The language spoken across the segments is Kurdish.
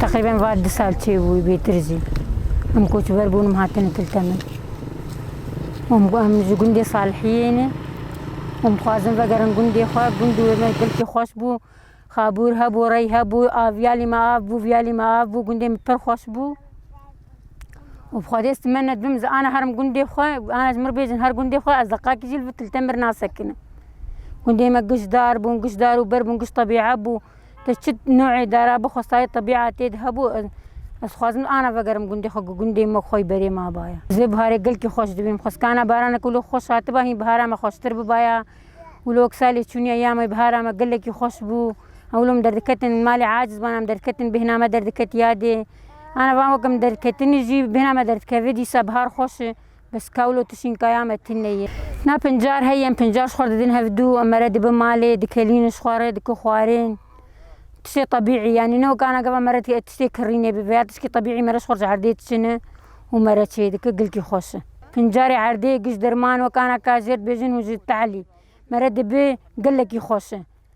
Teqrîben va du sal çêbû bêtir jî em koçber bûn û hatine kilte min. Em ji gundê Salihiyê ne û em dixwazin vegerin gundê xwe. Gund wê me gelkî xweş bû. Xabûr hebû, rey hebû, aviyalî me av bû, viyalî me av bû. Gundê min pir xweş bû. Û bi xwedê stime ne dibim ji ana herim gundê xwe, ana ji mir bêjin her gundê xwe ez deqakî jî li vir kilte min nasekinim. Gundê me giştdar bûn, giştdar û berr bûn, giş tebîe bû. Te çi newê dara bi xwestayê tebîa tê de hebû? Ez ez xwazim ana vegerim gundê xwe ku gundê me xwe yî berê mabaye. Ez vê biharê gelkî xweş dibîm. Xweskana baraneke wilo xweş hatiba hîn bihara me xweştir bibaya. Wilo wek salê çûniya ya me bihara me gelekî xweş bû. Em wilo min derdiketin malê aciz ban em derdiketin bêhna me derdiketiya dê. Ana van wek em derdiketinê jî bêhna me derdikeve dîsa bihar xweş e. Bes kawl û tişînkaya me tîne ye. Na pincar heye em pincar ji xwe re didin hev dû em mere dibin malê, dikelînin ji xwe re, dikin xwarin. Tiştê tebîî ye. Nîne weke ana gava me re tiştê kirînê bibe ya tiştê tebîî me re ji xwe re ji erdê diçine û me re çê dike gilkî xweş e. Pincarê erdê giş dirman weke ana ka jêr dibêjin hûn ji tehlî me re dibe gelekî xweş e.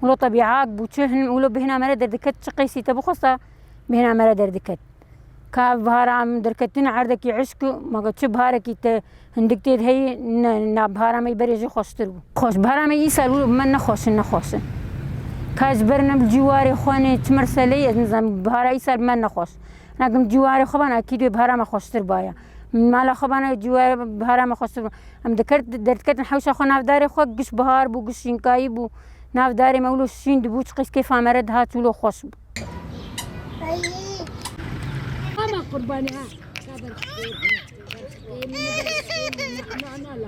Wilo te bîhak bû, çi hin wilo bêhna me re derdiket, çi qêsî te bixwesta bêhna me re derdiket. Ka ev bihara em derketina erdekî îşq û ma got çi biharekî te hindik tê de heye, ne, na bihara me berê jî xweştir bû. Xweş, bihara me îsal wilo bi me nexweş in, nexweş in. Ka ez ji ber ne bi cîwarê xwe nê çi meseleyê, ez nizanim, bihara îsal bi me nexweş in. Na kin bi cîwarê xwe ba na ekîd wê bihara me xweştir baya. Min mala xwe bana cûwe bihara me xwestir bû. Em dikir derdiketin hewşa xwe nav darê xwe giş bihar bû giş şînkayî bû. Nav darê me wilo şîn dibû çiqîs kêfa me re dihat wilo xweş bû. Ama kurbanî ha.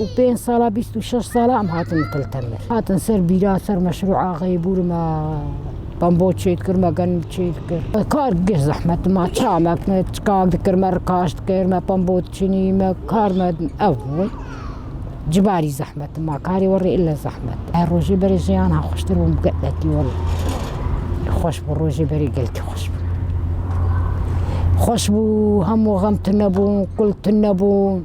û pênc sala bîst û şeş sala em hatin Til Temir. Hatin ser bîra, ser meşrûa Xeybûr me bambo çêt kir, me gen çêt kir. Kar giş zehmet ma ça me çikan dikir, me rikaş dikir, me bambo çinî, me kar me ew bû. Cibarî zehmet ma karê werê ille zehmet. Her rojê berê jiyan ha xweştir bûm gelekî werê. Xweş bû rojê berê gelkî xweş bû. Xweş bû hemû xem tune bûn, kul tune bûn.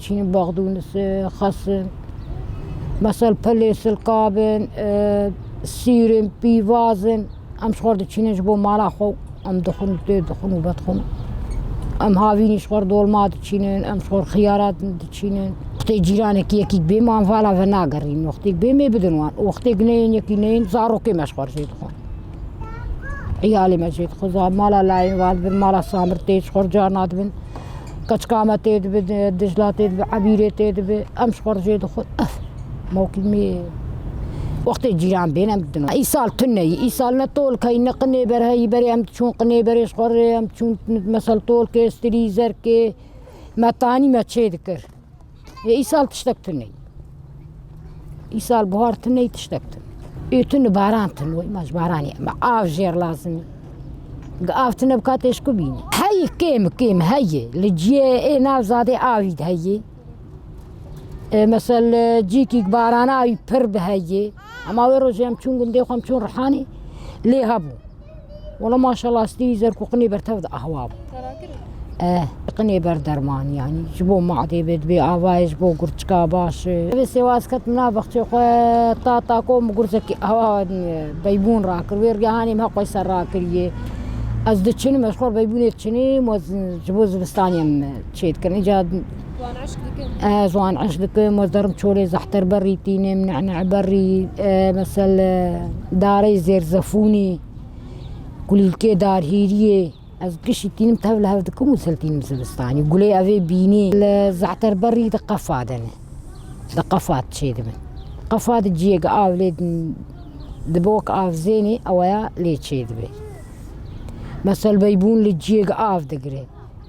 Çîn, Baqdûnis, Xesin, Mesel, Pilê, Silkabin, Sîrin, Pîvazin. Em ji xwe di çînin ji bo mala xwe em dixwin û tê dixwin û vedixwin. Em havînî ji xwe dolma diçînin, em ji xwe xiyarat diçînin. Wextê cîranekî yekî bê me em vala ve nagerînin. Wextê bê me bidin wan û wextê neyên yekî neyên zarokê me ji xwe jê dixwin. Îyalê me jê dixwin. Mala layên wan dibin, mala Samir tê ji xwe carna dibin. Keçkame tê dibi, Dijla tê dibi, Ebîrê tê dibi. Em ji xwe re jê dixwin. Ef mokîmê wextê cîran bên em didin. Îsal tu neyî, îsal ne tolkeyî, ne qinêber heyî. Berê em diçûn qinêberê ji xwe re em diçûn mesel tolkê, stilî, zerkê. Me tanî me çê dikir. Ê îsal tiştek tuney. Îsal buhar tuney tiştek tun. Ê tun baran tun wê maj baranî me av jêr lazimî. Gi av tune bika têşku bînî. Heyî kêm kêm heyî li ciyê ê nav zadê avî di heyî. Mesel cîkî barana avî pir bi heyî. Ema wê rojê em çûn gundê xwe em çûn rihanî lê hebû. Wala maşallah stî zer ku qinê bertev de ahwa bû. Eh, qinê ber derman yanî ji bo madê bê dibê avayê ji bo gurçika baş. Divê sêwaz ketim nav bexçê xwe ta ta ku min gurcekî awa beybûn rakir wê rigehanê min heqoy ser rakiriye. Ez diçinim ez xwe beybûnê diçinîm ji bo zivistanê em çêdikirin îcar زwan eşq dikim ez derim çolê zehter berî tînim necneh berî mesel darê zêrzefûnî kulîlkê darhîriyê ez kişî tînim tev li hev dikim û sil tînim zivistanî gulê evê bînî li zehter berî di qefa de ne di qefa de çê dibin qefa de ciyek av lê dibe wek avzênê eweya lê çê dibê mesel beybûn li ciyek av digire